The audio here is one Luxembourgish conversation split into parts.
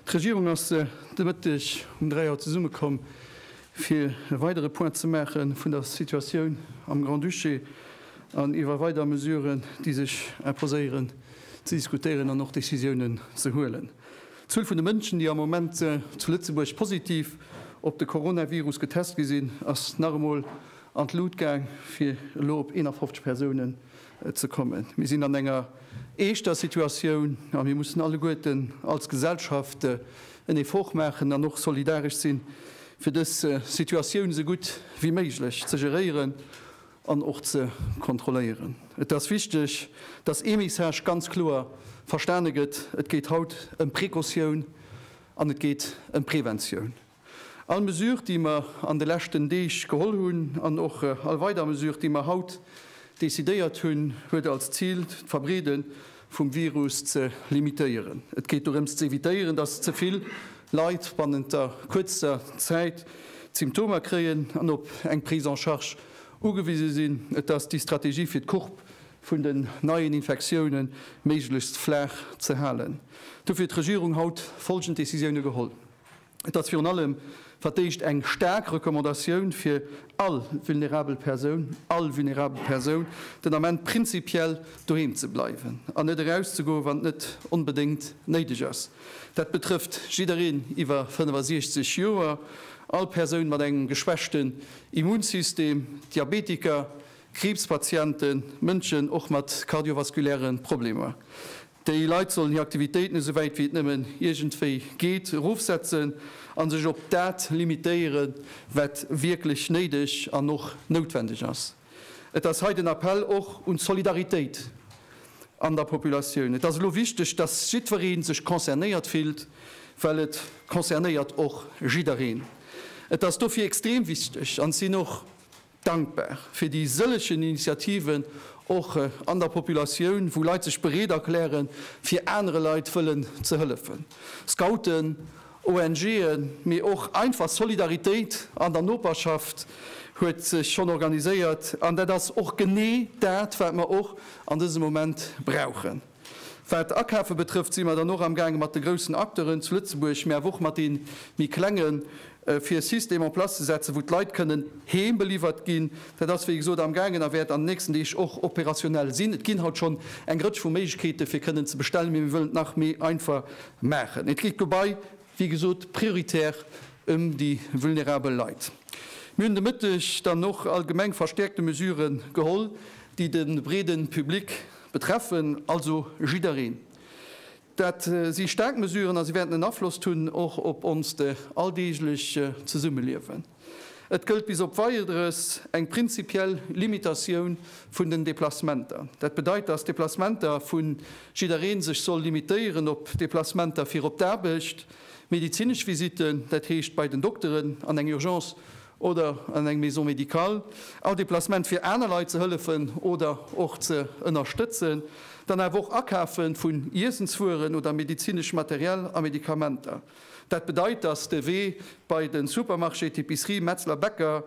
D'Regierung ass de Mëtteg um 3 Auer zesummekomm, fir e weidere Point ze maache vun der Situatioun am Grand-Duché an iwwer weider Mesuren, déi sech imposéieren, ze diskutéieren an och Decisiounen ze huelen. D'Zuel vun de Mënschen, déi am Moment zu Lëtzebuerg positiv op de Coronavirus getest gi sinn, ass nach emol an d'Lut gaang, fir elo op 51 Persounen ze kommen. Mir sinn an enger eeschter Situatioun a mir mussen alleguerten als Gesellschaft en Effort maachen an och solidaresch sinn, fir dës Situatioun esou gutt wéi méiglech ze geréieren. an och ze kontrolléieren. Et ass wichteg, dass ee Message ganz kloer verstane gëtt, Et geet haut ëm Precautioun an et geet ëm Preventioun. All Mesure, déi mer an de leschten Deeg geholl hunn, an och all weider Mesure, déi mer haut decidéiert hunn, huet als Zil d'Verbreede vum Virus ze limitéieren. Et geet dorëms ze evitéieren, dass ze vill Leit bannent der kuerzer Zäit d'Symptomer kréien an op eng Prise en charge ugewise sinn. Et ass déi Strategie fir d'Courbe vun den neien Infektioune méiglechst flaach ze halen. Dofir huet d'Regierung haut folgend Decisioune geholl. Et ass virun allem fir d'éischt eng staark Recommandatioun fir all vulnerabel Persoun, all vulnerabel Persoun den Ament prinzipiell doheem ze bleiwen an net erauszegoen, wann et net onbedéngt néideg ass. Dat betrëfft jiddereen iwwer 65 Joer, all Persoun mat engem geschwächten Immunsystem, Diabetiker, Kriibspatienten, Mënschen och mat kardiovaskuläre Problemer. Déi Leit sollen hir Aktivitéiten esou wäit wéi et nëmmen iergendwéi geet erofsetzen a sech op dat limitéiere wat wierklech néideg an och noutwendeg ass. Et ass hei den Appell och un d'Solidaritéit an der Populatioun. Et ass elo wichteg, datt jiddweree sech concernéiert fillt, well et concernéiert och jiddereen. Et ass dofir extrem wichteg an et sinn och Dankbar fir déi sëllegen Initiativen och an der Populatioun, wou Leit sech bereet erkläre fir anere Leit wëllen ze hëllefen. Scouten, ONGen, mee och einfach Solidaritéit an der Noperschaft huet sech schonn organiséiert, an dat ass och genee dat wat mer och an dësem Moment brauchen. Wat d'Akafe betrëfft, si mer dann och amgaange mat de groussen Acteuren zu Lëtzebuerg, mä awer och mat deene méi klengen, fir e System en place ze setzen, wou d'Leit kënnen heem beliwwert ginn. Dat ass, wéi gesot, amgaangen a wäert an den nächsten Deeg och opérationnel sinn. Et ginn haut schonn eng Rëtsch vu Méiglechkeete fir kënnen ze bestellen, mee mir wëllen et nach méi einfach maachen. Et geet dobäi, wéi gesot, prioritär ëm déi vulnerabel Leit. Mir hunn de Mëtteg dann och allgemeng verstäerkte Mesurë geholl, déi de breede Public, betreffen also jiddereen. Dat si staark Mesuren a si wäerten en Afloss hunn och op onst alldeeglech Zesummeliewen. Et gëllt bis op Weiederes eng prinzipiell Limitatioun vun den Deplacementer. Dat bedeit, dass d'Deplacementer vu jidderee sech soll limitéieren op Deplacementer fir op d'Aarbecht, medezinesch Visitten, dat heescht bei den Dokteren an eng Urgence oder an eng Maison médicale, all Deplacement fir aner Leit ze hëllefen oder och ze ënnerstëtzen, dann awer och Akafe vun Iessenswueren oder medezineschem Material a Medikamenter. Dat bedeit, dass de Wee bei de Supermarché, d'Epicerie, Metzler, Bäcker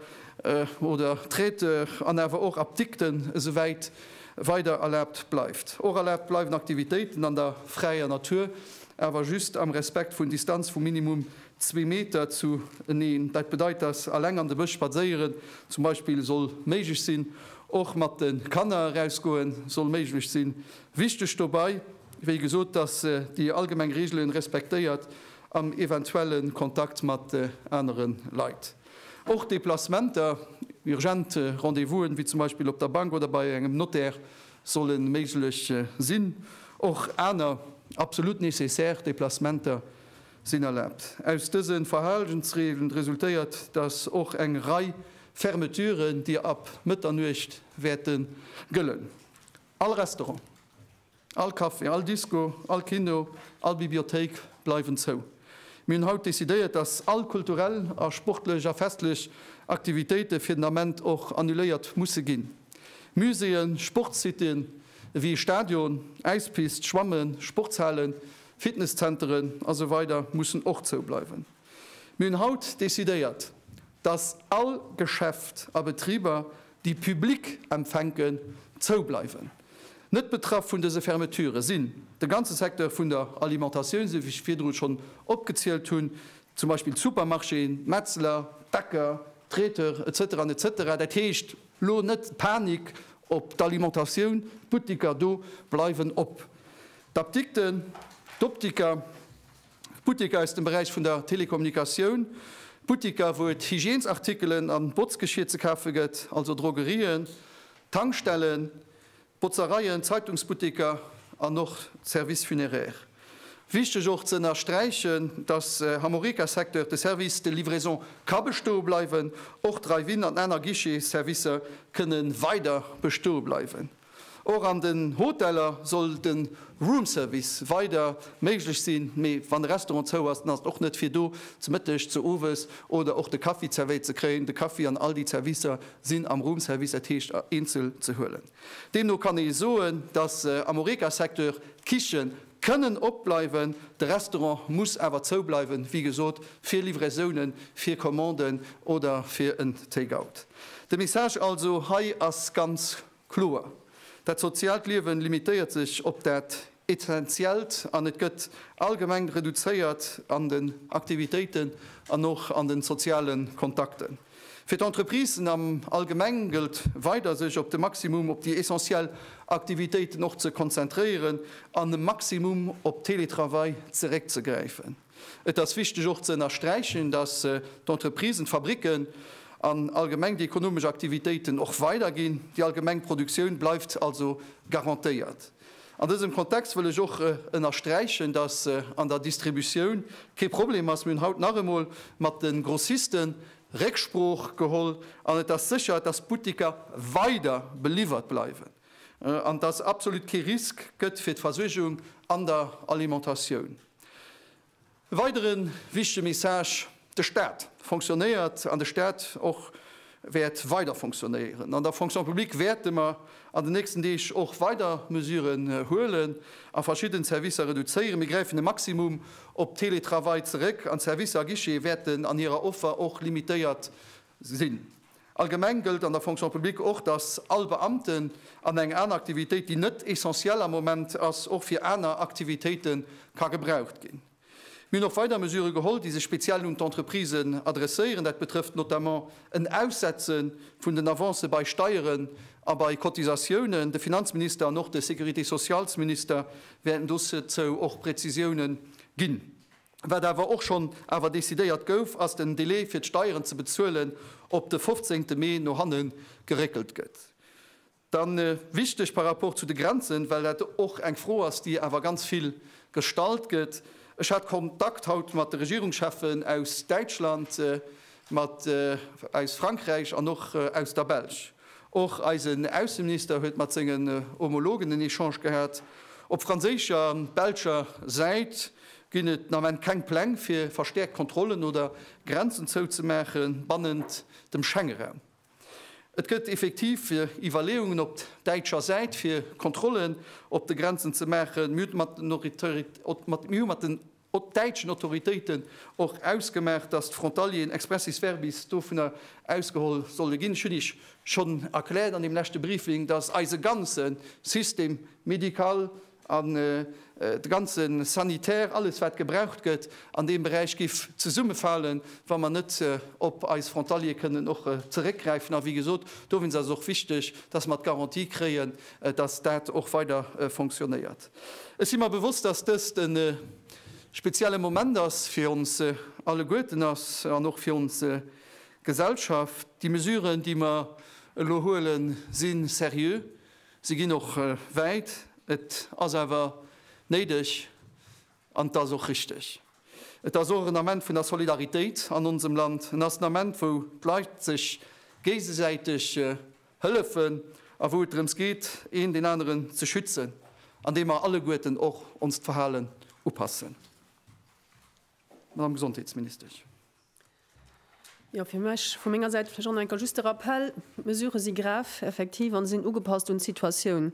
oder Traiteur an awer och Apdikten esouwäit weider erlaabt bleift. Och erlaabt bleiwen Aktivitéiten an der fräier Natur, awer just am Respekt vun Distanz vu minimum zwee Meter zu eneen. Dat bedeit, dass eleng an de Bësch spadséieren zum Beispill soll méiglech sinn. Och mat de Kanner erausgoe soll méiglech sinn. Wichteg dobei, wéi gesot, dass déi allgemeng Reegele respektéiert am eventuelle Kontakt mat anere Leit. Och Deplacementer, urgent Rendez-vous'en, wéi zum Beispill op der Bank oder bei engem Notaire, solle méiglech sinn. Och aner absolut nécessaire Deplacementer Sinn erlaabt. Aus dësen Verhalensreegelen resultéiert, dass och eng Rei Fermeturen, déi ab Mëtternuecht wäerten gëllen. All Restaurant, all Café, all Disco, all Kino, all Bibliothéik bleiwen zou. Mir hunn haut decidéiert, dass all kulturell a sportlech a festlech Aktivitéite fir den Ament och annuléiert musse ginn. Muséeën, Sportsitten ewéi Stadion, Äispist, Schwammen, Sportshalen, Fitnesscenteren a sou weider mussen och zou bleiwen. Mir hunn haut decidéiert, dass all Geschäft a Betriber, déi Public empfänken, zou bleiwen. Net betraff vun dëse Fermeture sinn de ganze Secteur vun der Alimentatioun, sou wéi ech virdru schonn opgezielt hunn, zum Beispill d'Supermarchéen, d'Metzler, d'Bäcker, d'Traiteurs, etc. Etc. Dat heescht, lo net Panik op d'Alimentatioun, d'Butteker do bleiwen op. D'Apdikten, d'Optiker, d'Butteker aus dem Beräich vun der Telekommunikatioun, d'Butteker, wou et Hygiènesartikelen a Botzgeschier ze kafe gëtt, also Drogerien, Tankstellen, Botzereien, Zeitungsbutteker an och d'Services funéraires. Wichteg och ze ënnersträichen, dass am Horeca-Secteur de Service de livraison ka bestoe bleiwen. Och Drive-in an aner Guichet-Servicer kënne weider bestoe bleiwen. Och an den Hoteller soll de Roomservice weider méiglech sinn, mee wann e Restaurant zou ass, dann ass et och net fir do ze Mëtteg, ze Owes oder och de Kaffi zerwéiert ze kréien. De Kaffi an all déi Zerwisser sinn am Roomservice, dat heescht eenzel ze huelen. Deemno kann ee soen, dass am Horeca-Secteur d'Kiche kënnen op bleiwen, de Restaurant muss awer zou bleiwen, wéi gesot, fir Livraisonen, fir Commanden oder fir en Take-out. De Message also hei ass ganz. Kloer, dat soziaalt Liewen limitéiert sech op dat Essentiellt an et gëtt allgemeng reduzéiert an den Aktivitéiten an och an den sozialen Kontakten. Fir d'Entreprisen am Allgemeng gëllt weider sech op de Maximum op déi essentiell Aktivitéiten och ze konzentréieren an e Maximum op Teletravail zeréckzegräifen. Et ass wichteg och ze ënnersträichen, datt d'Entreprisen, d'Fabricken an allgemeng déi ekonomesch Aktivitéiten och weiderginn. Déi allgemeng Produktioun bleift also garantéiert. An dësem Kontext wëll ech och ënnersträichen, datt an der Distributioun kee Problem ass. Mir hunn haut nach emol mat de Grossiste Récksprooch geholl an et ass sécher, datt d'Butteker weider beliwwert bleiwen an datt absolut kee Risk gëtt fir d'Versuergung an der Alimentatioun. E weidere wichtege Message, De Staat fonctionnéiert an de Staat och wäert weider fonctionnéieren. An der Fonction publique wäerte mer an den nächsten Deeg och weider Mesuren huelen a verschidden Servicer reduzéieren. Mir gräifen e Maximum op Teletravail zeréck an d'Servicer à guichet wäerten an hirer Offer och limitéiert sinn. Allgemeng gëllt an der Fonction publique och, dass all Beamten an eng aner Aktivitéit, déi net essentiell am Moment ass, och fir aner Aktivitéite ka gebraucht ginn. Mir hunn och weider Mesurë geholl, déi sech speziell un d'Entreprisen adresséieren. Dat betrëfft notamment en Aussetze vun den Avancë bei Steieren a bei Cotisatiounen. De Finanzminister an och de Sécurité-socialsminister wäerten dozou och Präzisiounen ginn. Wat awer och schonn awer decidéiert gouf, ass den Delai fir d'Steieren ze bezuelen op de 15 Mee no hanne geréckelt gëtt. Da wichteg par rapport zu de Grenzen, well dat och eng Fro ass, déi awer ganz vill gestallt gëtt. Ech hat Kontakt haut mat de Regierungschefen aus Däitschland, mat aus Frankräich an och aus der Belsch. Och eisen Ausseminister huet mat sengen Homologen en Echange gehat. Op franséischer an belscher Säit Ginn et den Ament keng Pläng fir verstäerkt Kontrollen oder Grenzen zouzemaache bannent dem Schengeraum? Et gëtt effektiv Iwwerleeungen op däitscher Säit fir Kontrollen op de Grenzen ze maachen. Mir hu mat den däitschen Autoritéiten och ausgemaach, datt d'Frontalieren expressis verbis dovunner ausgeholl solle ginn. Ech hunn Iech schonn erkläert an deem leschte Briefing, datt eise ganze Système médical an de ganze Sanitär, alles wat gebraucht gëtt an deem Beräich géif zesummefalen, wa mer net op eis Frontaliere kënnen och zeréckgräifen. A wéi gesot, dowéinst ass et och wichteg, dass mer d'Garantie kréien, dass dat och weider fonctionnéiert. Ech si mer bewosst, dass dëst e spezielle Moment ass, fir ons alleguerten ass an och fir ons Gesellschaft. Déi Mesuren, déi mer elo huelen, si seriö, Si ginn och wäit. Et ass awer néideg an et ass och richteg. Et ass och en Ament vun der Solidaritéit an onsem Land. En ass en Ament, wou d'Leit sech géigesäiteg hëllefen a wou et drëms geet, een deen aneren ze schützen, an deem mer alleguerten och onst Verhalen upassen. Madame Gesondheetsministesch. Jo, fir mech vu menger Säit vläch och nach eng Kéier just de Rappell, D'Mesurë si grave, effektiv, a sinn ugepasst un d'Situatioun.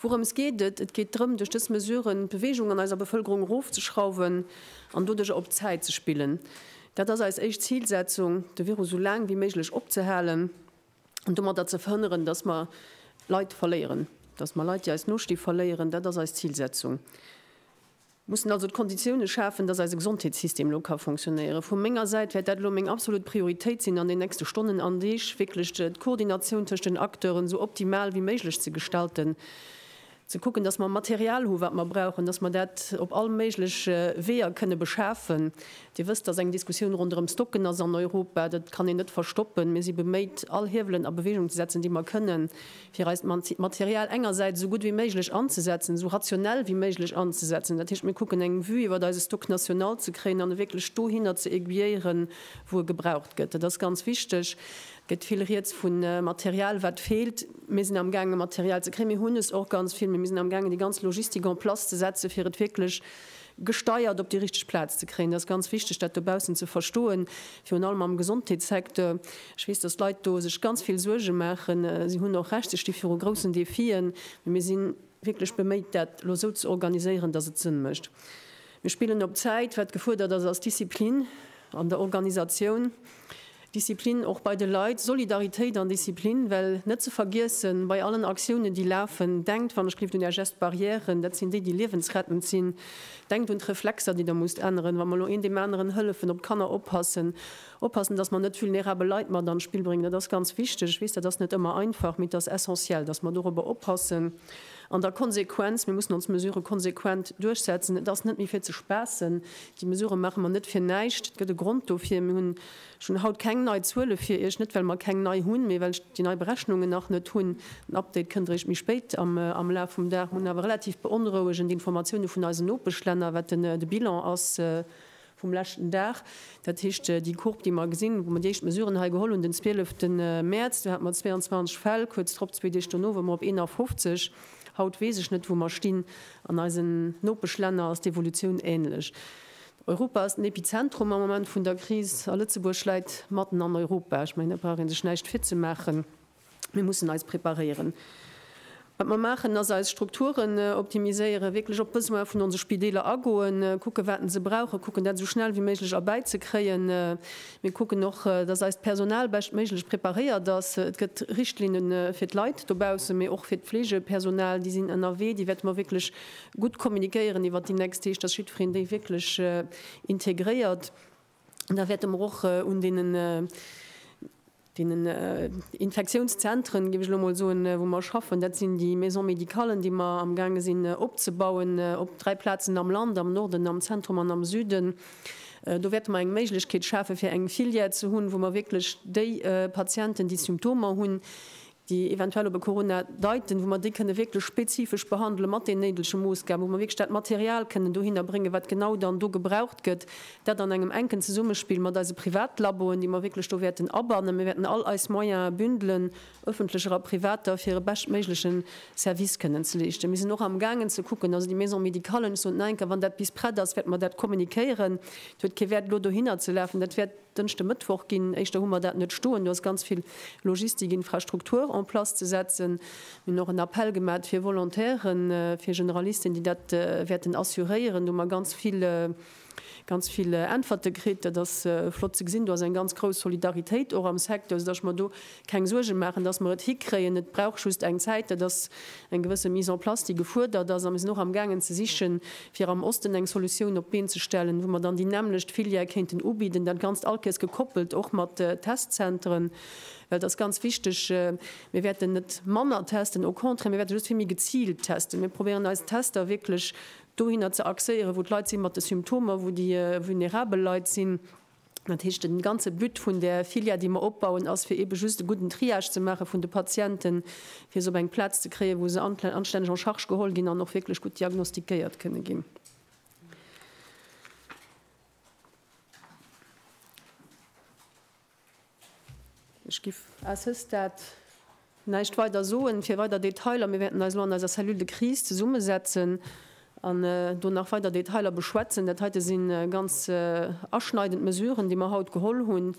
Wourëms geet et? Et geet drëm, duerch dës Mesuren d'Beweegung an eiser Bevëlkerung erofzeschrauwen an doduercher op d'Zäit ze spillen. Dat ass eis éischt Zilsetzung, de Virus esou laang wéi méiglech opzehalen an domatter ze verhënneren, dass mer Leit verléieren, dass mer Leit, déi eis nosti, verléieren. Dat ass eis Zilsetzung. mussen also d'Konditiounen schafen, dass eise Gesondheetssystem elo ka fonctionnéieren. Vu menger Säit wäert dat elo meng absolut Prioritéit sinn an den nächste Stonnen an Deeg, wierklech d'Koordinatioun tëscht den Acteuren esou optimal wéi méiglech ze gestalten, ze kucken, dass mer Material hu wat mer brauchen, dass mer dat op all méigleche Weeër kënne beschafen. Dir wësst, dass eng Diskussioun ronderëm Stocken ass an Europa, dat kann een net verstoppen. Mir si beméit all Hiewelen a Bewegung ze setzen, déi mer kënnen, fir eist Material engersäits esou gutt wéi méiglech anzesetzen, esou rationell wéi méiglech anzesetzen, dat heescht, mir kucken eng Vue iwwert eise Stock national ze kréien an e wierklech dohinner ze aiguilléieren, wou e gebraucht gëtt. Dat ass ganz wichteg. Et gëtt vill Rieds vu Material, wat feelt. Mir sinn amgaange Material ze kréien. Mir hunn es och ganz vill, mä mir sinn amgaangen, déi ganz Logistik en place ze setzen, fir et wierklech gesteiert op déi richteg Plaz ze kréien. Et ass ganz wichteg dat dobaussen ze verstoen, virun allem am Gesondheetssecteur. Ech weess, datt d'Leit do sech ganz vill Suerge maachen. Si hunn och Recht, se sti viru groussen Defien. Mee mir si wierklech beméit dat elo esou ze organiséieren, datt et Sënn mécht. Mir spillen op Zäit. Wat gefuerdert ass, ass Disziplin an der Organisatioun. Disziplin och bei de Leit, Solidaritéit an Disziplin, well net ze vergiessen, bei allen Aktiounen, déi lafen, denkt, wann ech gelift, un Är Gestes barrièren, dat sinn déi, déi liewensrettend sinn. Denkt un d'Reflexer, déi Der musst änneren, wa mer elo een deem aneren hëllefen, op d'Kanner oppassen, oppassen, dass mer net vulnerabel Leit mat an d'Spill bréngen. Dat ass ganz wichteg. Ech weess, dat ass net ëmmer einfach, mee et ass essentiel, dass mer dorobber oppassen. An da Konsequenz, Mir mussen ons Mesurë konsequent duerchsetzen. Et ass net méi fir ze spaassen. Déi Mesurë maache mer net fir näischt. Et gëtt e Grond dofir. Mir hunn. Ech hunn haut keng nei Zuele fir Iech, net well mer keng nei hunn, mee well ech déi nei Berechnungen nach net hunn. Den Update kënnt eréischt méi spéit am Laf vum Dag. Mer hunn awer relativ beonrouegend Informatioune vun eisen Nopeschlänner, wat de Bilan ass vum leschten Dag. Dat heescht, déi Courbe, déi mer gesinn, wou mer déi éischt Mesuren hei geholl hunn den 12 Mäerz, do hate mer 22 Fäll, kuerz drop, zwee Deeg dono ware mer op 51. Haut weess ech net, wou mer stinn. An eisen Nopeschlänner ass d'Evolutioun änlech. Europa ass den Epizentrum am Moment vun der Kris a Lëtzebuerg läit matten an Europa. Ech mengen, do brauch ee sech näischt virzemaachen, mir mussen eis preparéieren. Wat mer maachen, ass eis Strukturen optimiséieren, wierklech op d'Besoine vun onse Spideeler agoen, kucken, wat se brauchen, kucken, dat esou schnell wéi méiglech erbäizekréien. Mir kucken och, dass eist Personal beschtméiglech preparéiert ass. Et gëtt Richtlinne fir d'Leit dobaussen, mee och fir d'Fleegepersonal, déi sinn ënnerwee, déi wäerte mer wierklech Gutt kommunikéieren iwwert déi nächst heescht, datt jiddwereen déi wierklech integréiert. An da wäerte mer och un deenen, deenen Infektiounszentren, géif ech elo emol soen, wou mer schaffen, dat sinn déi Maisons médicalen, déi mer amgaange sinn opzebauen op dräi Plazen am Land, am Norden, am Zentrum an am Süden, do wäerte mer eng Méiglechkeet schafe fir eng Filière ze hunn, wou mer wierklech déi Patienten, déi Symptomer hunn, déi eventuell op e Corona deiten, wou mer déi kënne wierklech spezifesch behandele mat den néidege Moossgaben, wou mer wierklech dat Material kënnen dohinner bréngen, wat genau dann do gebraucht gëtt, dat an engem enken Zesummespill mat eise Privatlaboen, déi mer wierklech do wäerten abannen. Mir wäerten all eis Moyene bündelen, öffentlecher a privater, fir e beschtméigleche Service kënnen ze leeschten. Mir sinn och amgaangen ze kucken, also déi Maison médicalen, ech soen et nach eng Kéier, wann dat bis prett ass, wäerte mer dat kommunikéieren. Et huet kee Wäert elo dohinner ze lafen, dat wäert. Dënschde Mëttwoch ginn, éischter hu mer dat net stoen, do ass ganz vill Logistik, Infrastruktur en place ze setzen. Mir hunn och en Appell gemat fir Volontairen, fir Generalisten, déi dat wäerten assuréieren. Do hu mer ganz vill, ganz vill Äntwerte kritt. Dat ass flott ze gesinn. Do ass eng ganz grouss Solidaritéit och am Secteur, soudass mer do Keng Suergen maachen, dass mer et hikréien. Et brauch just eng Zäit. Dat ass eng gewësse Mise en place, déi gefuerdert ass. A mir sinn och amgaangen ze sichen, fir am Osten eng Solutioun op d'Been ze stellen, wou mer dann déi nämmlecht Filière kéinten ubidden. Dat Ganzt allkéiers gekoppelt och mat Testzentren, well et ass ganz wichteg, mir wäerten net manner testen, au contraire, mir wäerte just vill méi geziilt testen. Mir probéieren eis Tester wierklech dohinner ze axéieren, wou d'Leit si mat de Symptomer, wou déi vulnerabel Leit sinn. Dat heescht, de ganze But vun där Filière, déi mer opbauen, ass, fir eebe just e gudden Triage ze maache vun de Patienten, fir se op eng Plaz ze kréien, wou se anstänneg en charge geholl ginn an och wierklech gutt diagnostiquéiert kënne ginn. Ech giff à ce stade näischt weider soen fir weider Detailer. Mir wäerten eis elo an eiser Cellule de crise zesummesetzen an do nach weider Detailer beschwätzen. Dat heite si ganz aschneidend Mesuren, déi mer haut geholl hunn.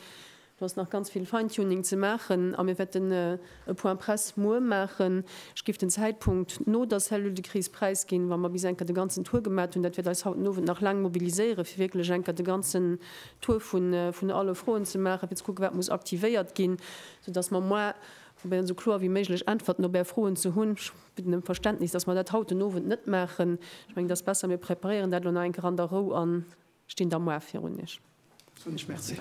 Do ass nach ganz vill Fine-Tuning ze maachen a mir wäerten E Point Presse muer maachen. Ech géif den Zäitpunkt no der Cellule de crise präisginn, wa mer bis enker de ganzen Tour gemat hunn. Dat wäert eis haut den Owend nach laang mobiliséieren, fir wierklech enker de ganzen Tour vun alle Froen ze maachen, fir ze kucken, wat muss aktivéiert ginn, soudass mer muer probéieren, esou kloer wéi méiglech Äntwerten op Är Froen ze hunn. Ech bidden ëm Verständnis, dass mer dat haut den Owend net maachen. Ech mengen, et ass besser, mir preparéieren dat elo nach eng Kéier an der Rou an. Stinn da muar virun iech. Soen iech Merci.